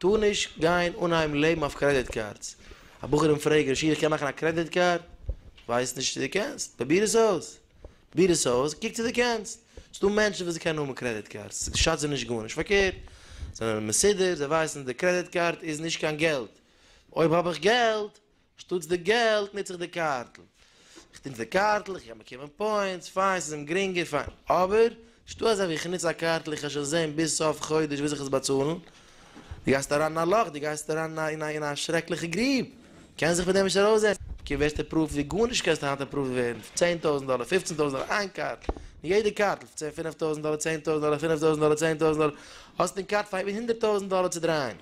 טאר נישט גיין אנהייבן לעבן אויף קרעדיט קארדס. א בחור אים פרעגט, ר' שיח איך קען מאכן א קרעדיט קארד? ווייסט נישט צו דו קענסט? פרוביר עס אויס! פרוביר עס אויס, קוק צו דו קענסט! ס'דא מענטשן וואס קענען האבן קרעדיט קארדס, ס'שאדט זיי נישט גארנישט, פארקערט, זיי זענען מסודר, זיי ווייסן די קרעדיט קארד איז נישט קיין געלט, אויב האב איך געלט, שטאטס די געלט נוץ איך די קארטל. איך נוץ די קארטל, איך קען באקומען פוינטס, פיין, ס'איז אים גרינגער, פיין. אבער, שטא אזא ווי איך נוץ א קארטל, איך וועל שוין זען ביז סוף חודש וויאזוי איך עס באצאלן. דו גייסט אריין אין א לאך, דו גייסט אריין אין א אין א שרעקליכע גריב. קענסט זיך פון דעם נישט ארויסזעצן. קום ווערסט אפראווד ווי גארנישט קענסט היינט אפראווד ווערן, פון צען טויזנט דאלער, פופצן טויזנט דאלער, איין קארט, אין יעדע קארטל, פון צען פינף טויזנט דאלער, צען טויזנט דאלער, פינף טויזנט דאלער, צען טויזנט דאלער, האסט אין קארט פאר איבער הונדערט טויזנט דאלער צו דרייען.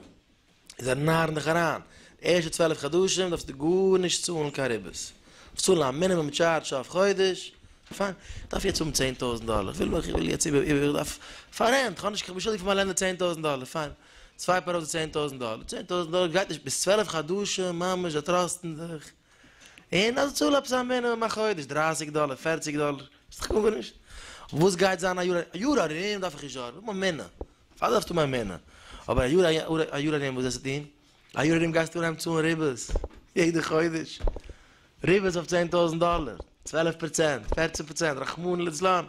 זיי נארן דיך אריין, די ערשטע צוועלף חדשים דארפסטו גארנישט צאלן קיין ריבית, דארפסט צאלן א מינימום טשארדש אויף חודש, פיין, איך דארף יעצט האבן צען טויזנט דאלער, איך וויל, איך וויל יעצט איבער, איבער, איך דארף פאר רענט, איך האב נישט, איך בין שולדיג פאר מיין לענדלארד צען טויזנט דאלער, פיין, סווייפ ארויף די צען טויזנט דאלער, צען טויזנט דאלער גייט נישט, ביז צוועלף חדשים ממש זיי טראסטן דיך, און אז צאל עפעס א מינימום א חודש, דרייסיג דאלער, פערציג דאלער, ס'איז דאך גארנישט. וואס גייט זיין א יאר, א יאר ארום דארף איך נישט זארגן, איך האב מיין מנין, פארוואס דארפסטו מיין מנין? אבער א יאר, א יאר ארום וואס וועסטו טון? א יאר ארום גייסטו אנהייבן צאלן ריבית, יעדע חודש, ריבית אויף צען טויזנט דאלער, צוועלף פראצענט, פערצן פראצענט, רחמנא לצלן,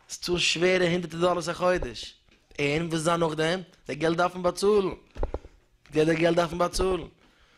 וועסט צאלן שווערע הונדערטער דאלערס א חודש, און וואס איז דאן נאכדעם? די געלט דארף מען באצאלן, די געלט דארף מען באצאלן.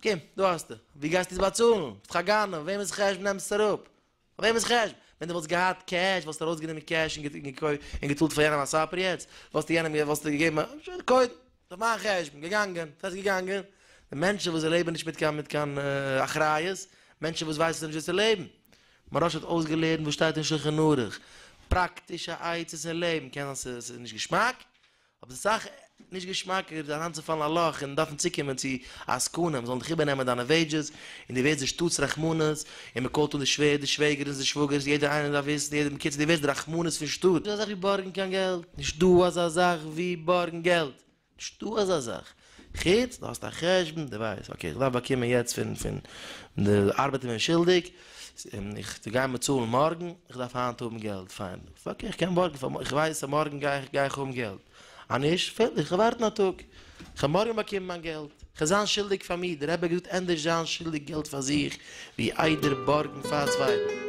אקעי, דא האסטו. ווי גייסטו עס באצאלן? ביסט דאך א גנב, וועמענס חשבון נעמסטו אראפ? פון וועמענס חשבון? ווען דו וואלסט געהאט קעש וואלסטו ארויסגענומען קעש און געקויפט און געצאלט פאר יענעם א סאפער יעצט? וואלסטו יענעם וואלסטו געגעבן א שוין קודם, ס'איז אויף מיין חשבון, געגאנגען, ס'הייסט געגאנגען? די מענטשן וואס זיי לעבן נישט מיט קיין מיט קיין אחריות, מענטשן וואס ווייסן נישט וויאזוי צו לעבן. מוהראש האט אויסגעלערנט וואס שטייט אין שולחן ערוך, פראקטישע עצות אין לעבן, קען זיין ס'איז נישט געשמאק, אבער ס'איז סאך נישט געשמאקער זיך אריינצופאלן אין א לאך און דארפן צוקומען צו א עסקנים זאלן דיך איבערנעמען דיינע וועידזשעס און דו ווערסט די שטאט'ס רחמנות און מען קאלט אן די שווער די שוועגערס די שוואגערס יעדער איינער דארף וויסן יעדער בקיצור דו ווערסט די רחמנות פון שטאט. נישטא אזא זאך ווי בארגן קיין געלט! נישטא אזא זאך ווי בארגן געלט! נישטא אזא זאך! חוץ דו האסט א חשבון, דו ווייסט, אקעי איך דארף באקומען יעצט פון פון די ארבעטער ווערן שולדיג, איך זיי גייען באצאלן מארגן, איך דארף היינט האבן געלט, פיין, אקעי איך קען בארגן פאר, איך ווייס אז מארגן גיי איך גיי איך האבן געלט, אז נישט, פועל איך, איך וועל ווארטן א טאג, איך וועל מארגן באקומען מיין געלט, איך וועל זיין שולדיג פאר מיר, דער רבי האט געזאגט ענדערש זיין שולדיג געלט פאר זיך, ווי איידער בארגן פאר צווייטן.